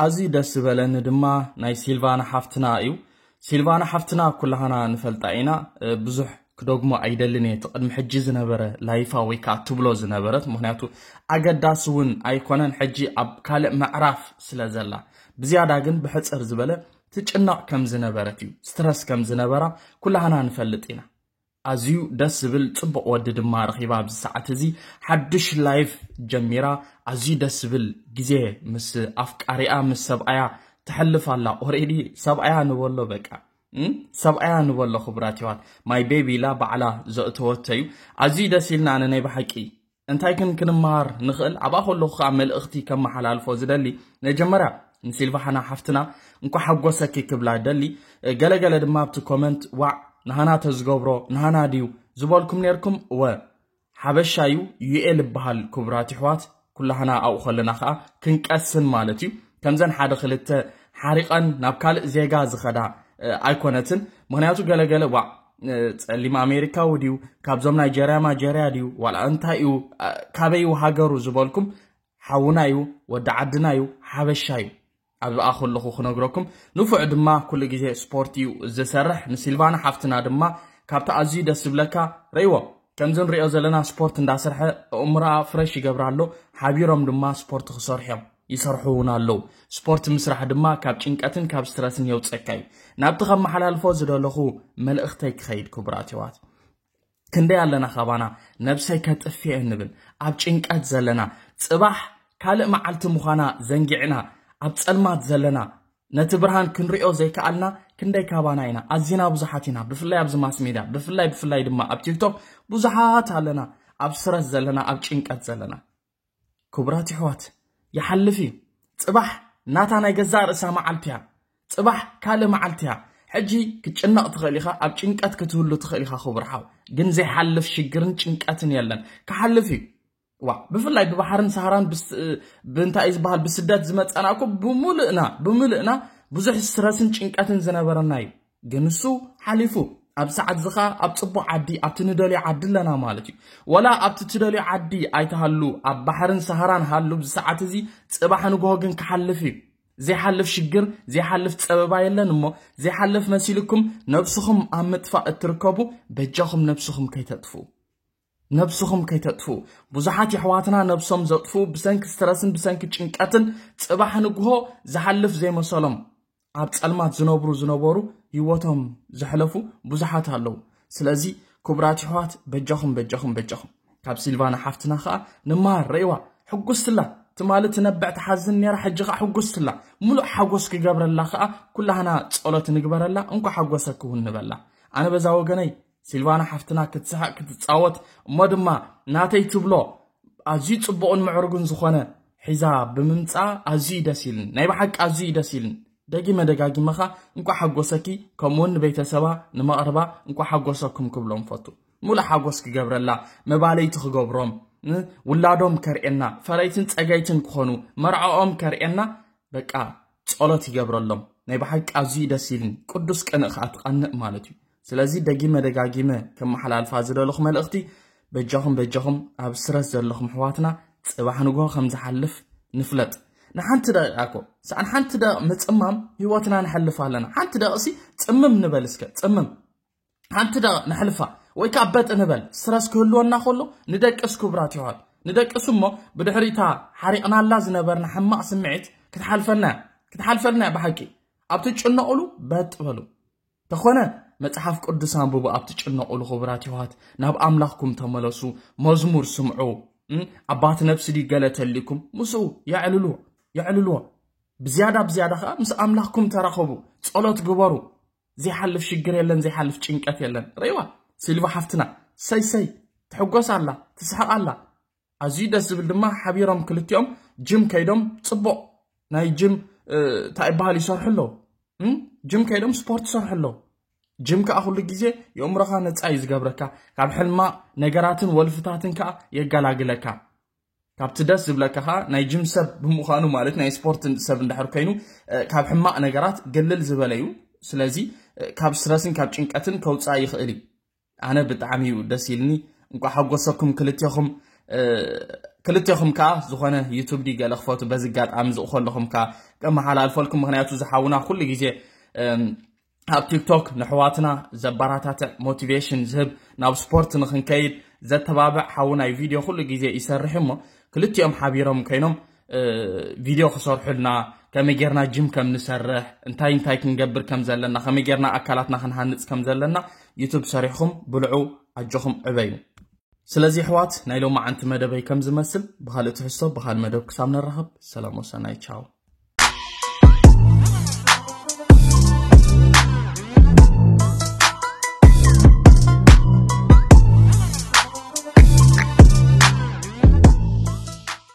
ኣዝዩ ደስ ዝበለኒ ድማ ናይ ሲልቫና ሓፍትና እዩ ሲልቫና ሓፍትና ኩላህና ንፈልጣ ኢና ብዙሕ ክደግሞ ኣይደልን እየ ትቅድሚ ሕጂ ዝነበረ ላይፋ ወይ ከዓ ትብሎ ዝነበረት ምክንያቱ ኣገዳሲ እውን ኣይኮነን ሕጂ ኣብ ካልእ ምዕራፍ ስለ ዘላ ብዝያዳ ግን ብሕፅር ዝበለ ትጭነቕ ከም ዝነበረት እዩ ስትረስ ከም ዝነበራ ኩላህና ንፈልጥ ኢና ኣዝዩ ደስ ዝብል ጽቡቅ ወዲ ድማ ረኺባ ኣብዚ ሰዓት እዚ ሓድሽ ላይፍ ጀሚራ ኣዝዩ ደስ ዝብል ግዜ ምስ ኣፍቃሪኣ ምስ ሰብኣያ ተሕልፍ ኣላ ኦሬዲ ሰብኣያ ንበሎ በቃ ሰብኣያ ንበሎ ክቡራት ይዋት ማይ ቤቢ ኢላ ባዕላ ዘእተወቶ እዩ ኣዝዩ ደስ ኢልና ኣነ ናይ ብሓቂ እንታይ ግን ክንመሃር ንኽእል ኣብኣ ከለኹ ከኣ መልእኽቲ ከመሓላልፎ ዝደሊ ነጀመርያ ንሲልቫሃና ሓፍትና እንኳ ሓጎሰኪ ክብላ ደሊ ገለገለ ድማ ኣብቲ ኮመንት ዋዕ ንሃና ተዝገብሮ ንሃና ድዩ ዝበልኩም ነርኩም ወ ሓበሻ ዩ ዩኤል ይበሃል ክቡራት ይሕዋት ኩላህና ኣብኡ ከለና ከኣ ክንቀስን ማለት እዩ ከምዘን ሓደ ክልተ ሓሪቐን ናብ ካልእ ዜጋ ዝኸዳ ኣይኮነትን ምክንያቱ ገለገለ ዋዕ ጸሊም ኣሜሪካዊ ድዩ ካብዞም ናይ ጀርያ ማጀርያ ድዩ ዋላ እንታይ እዩ ካበይ እዩ ሃገሩ ዝበልኩም ሓውና እዩ ወዲ ዓድና እዩ ሓበሻ እዩ ኣብዚ ኣ ከለኹ ክነግረኩም ንፉዕ ድማ ኩሉ ግዜ ስፖርት እዩ ዝሰርሕ ንሲልቫና ሓፍትና ድማ ካብቲ ኣዝዩ ደስ ዝብለካ ረይዎ ከምዚ ንሪኦ ዘለና ስፖርት እንዳሰርሐ እእምሮኣ ፍረሽ ይገብራ ኣሎ ሓቢሮም ድማ ስፖርት ክሰርሑ እዮም ይሰርሑ እውን ኣለው። ስፖርት ምስራሕ ድማ ካብ ጭንቀትን ካብ ስትረስን የውፀካ እዩ። ናብቲ ከመሓላልፎ ዝደለኹ መልእኽተይ ክኸይድ ክቡራት የዋት ክንደይ ኣለና ካባና ነብሰይ ከጥፍኤ ንብል ኣብ ጭንቀት ዘለና ፅባሕ ካልእ መዓልቲ ምዃና ዘንጊዕና ኣብ ፀልማት ዘለና ነቲ ብርሃን ክንሪኦ ዘይከኣልና ክንደይ ካባና ኢና ኣዚና ብዙሓት ኢና ብፍላይ ኣብዚ ማስ ሜድያ ብፍላይ ብፍላይ ድማ ኣብ ቲክቶክ ብዙሓት ኣለና ኣብ ስረስ ዘለና ኣብ ጭንቀት ዘለና ክቡራት የሕዋት ይሓልፍ እዩ ጽባሕ ናታ ናይ ገዛእ ርእሳ መዓልቲ እያ ጽባሕ ካልእ መዓልቲ እያ ሕጂ ክትጭነቕ ትኽእል ኢኻ ኣብ ጭንቀት ክትህሉ ትኽእል ኢኻ ክቡር ሓው ግን ዘይሓልፍ ሽግርን ጭንቀትን የለን ክሓልፍ እዩ ዋ ብፍላይ ብባሕርን ሰሃራን ብእንታይ ዝበሃል ብስደት ዝመፀና እኮ ብምልእና ብምልእና ብዙሕ ስትረስን ጭንቀትን ዝነበረና እዩ ግን እሱ ሓሊፉ ኣብ ሰዓት እዚ ከኣ ኣብ ጽቡቕ ዓዲ ኣብቲ ንደልዮ ዓዲ ኣለና ማለት እዩ ወላ ኣብቲ ትደልዮ ዓዲ ኣይትሃሉ ኣብ ባሕርን ሰሃራን ሃሉ ኣብዚ ሰዓት እዚ ጽባሕ ንግሆ ግን ክሓልፍ እዩ ዘይሓልፍ ሽግር ዘይሓልፍ ጸበባ የለን እሞ ዘይሓልፍ መሲልኩም ነብስኹም ኣብ ምጥፋእ እትርከቡ በጃኹም ነብስኹም ከይተጥፍኡ ነብስኹም ከይተጥፍኡ ብዙሓት የሕዋትና ነብሶም ዘጥፍኡ ብሰንኪ ስትረስን ብሰንኪ ጭንቀትን ጽባሕ ንግሆ ዝሓልፍ ዘይመሰሎም ኣብ ጸልማት ዝነብሩ ዝነበሩ ሂወቶም ዘሕለፉ ብዙሓት ኣለዉ ስለዚ ክቡራት የሕዋት በጃኹም በጃኹም በጃኹም ካብ ሲልቫና ሓፍትና ከኣ ንመሃር ረእዋ ሕጉስትላ ትማሊ ትነብዕ ትሓዝን ነራ ሕጂ ከኣ ሕጉስትላ ምሉእ ሓጎስ ክገብረላ ከኣ ኩላህና ጸሎት ንግበረላ እንኳ ሓጎሰኪ እውን ንበላ ኣነ በዛ ወገነይ ሲልቫና ሓፍትና ክትስሕቕ ክትጻወት እሞ ድማ ናተይ ትብሎ ኣዝዩ ጽቡቕን ምዕሩግን ዝኾነ ሒዛ ብምምጻ ኣዝዩ ደስ ኢልን ናይ ብሓቂ ኣዝዩ ደስ ኢልን ደጊመ ደጋጊመ ኸ እንኳዕ ሓጎሰኪ ከምኡውን ንቤተሰባ ንመቕርባ እንኳዕ ሓጎሰኩም ክብሎም ፈቱ ሙሉእ ሓጎስ ክገብረላ መባለይቲ ክገብሮም ውላዶም ከርእየና ፈረይትን ጸገይትን ክኾኑ መርዓኦም ከርእየና በቃ ጸሎት ይገብረሎም ናይ ብሓቂ ኣዝዩ ደስ ኢልን ቅዱስ ቅንእ ከዓ ትቐንእ ማለት እዩ ስለዚ ደጊመ ደጋጊመ ከመሓላልፋ ዝደለኹ መልእኽቲ በጃኹም በጃኹም ኣብ ስረት ዘለኹም ኣሕዋትና ጽባሕ ንግሆ ከም ዝሓልፍ ንፍለጥ ንሓንቲ ደቂቃ እኮ ሳዕ ንሓንቲ ደቂቕ ምፅማም ህይወትና ንሐልፍ ኣለና ሓንቲ ደቂቕሲ ፅምም ንበል እስከ ፅምም ሓንቲ ደቂቕ ነሕልፋ ወይ ከዓ በጥ ንበል ስረስ ክህልወና ከሎ ንደቅስ ክቡራት ይዋል ንደቅስ እሞ ብድሕሪታ ሓሪቕናላ ዝነበርና ሕማቕ ስምዒት ክትሓልፈና ክትሓልፈልና እያ ብሓቂ ኣብቲ ጭነቕሉ በጥ በሉ ተኾነ መጽሓፍ ቅዱስ ኣንብቡ ኣብ ትጭነቑሉ ክቡራት የሕዋት ናብ ኣምላኽኩም ተመለሱ መዝሙር ስምዑ ኣባት ነብሲ ድዩ ገለ ተልዩኩም ምስኡ የዕልልዎ የዕልልዎ ብዝያዳ ብዝያዳ ከዓ ምስ ኣምላኽኩም ተራኸቡ ጸሎት ግበሩ ዘይሓልፍ ሽግር የለን ዘይሓልፍ ጭንቀት የለን ረይዋ ሲልቫ ሓፍትና ሰይ ሰይ ትሕጎስ ኣላ ትስሕቕ ኣላ ኣዝዩ ደስ ዝብል ድማ ሓቢሮም ክልቲኦም ጅም ከይዶም ጽቡቕ ናይ ጅም እንታይ ይበሃል ይሰርሑ ኣለዉ ጅም ከይዶም ስፖርት ይሰርሑ ኣለዉ ጅም ከዓ ኩሉ ግዜ የእምሮኻ ነፃ እዩ ዝገብረካ ካብ ሕልማ ነገራትን ወልፍታትን ከዓ የገላግለካ ካብቲ ደስ ዝብለካ ከዓ ናይ ጅም ሰብ ብምዃኑ ማለት ናይ ስፖርት ሰብ እንዳሕር ኮይኑ ካብ ሕማቕ ነገራት ግልል ዝበለ እዩ ስለዚ ካብ ስረስን ካብ ጭንቀትን ከውፃእ ይኽእል እዩ ኣነ ብጣዕሚ እዩ ደስ ኢልኒ እንቋ ሓጎሰኩም ክልቴኹም ክልቴኹም ከዓ ዝኾነ ዩቱብ ዲ ገለ ክፈቱ በዚ ኣጋጣሚ ዝቕኸለኹም ከዓ ቀመሓላልፈልኩም ምክንያቱ ዝሓውና ኩሉ ግዜ ኣብ ቲክቶክ ንሕዋትና ዘበራታትዕ ሞቲቬሽን ዝህብ ናብ ስፖርት ንክንከይድ ዘተባብዕ ሓውናይ ቪድዮ ኩሉ ግዜ ይሰርሕ እሞ ክልቲኦም ሓቢሮም ኮይኖም ቪድዮ ክሰርሑልና ከመይ ጌርና ጅም ከም ንሰርሕ እንታይ እንታይ ክንገብር ከም ዘለና ከመይ ጌርና ኣካላትና ክንሃንፅ ከም ዘለና ዩቱብ ሰሪሕኹም ብልዑ ኣጆኹም ዕበዩ ስለዚ ኣሕዋት ናይ ሎሚ ዓንቲ መደበይ ከም ዝመስል ብካልእ ትሕዝቶ ብካልእ መደብ ክሳብ ንራኸብ ሰላም ወሰናይ ቻው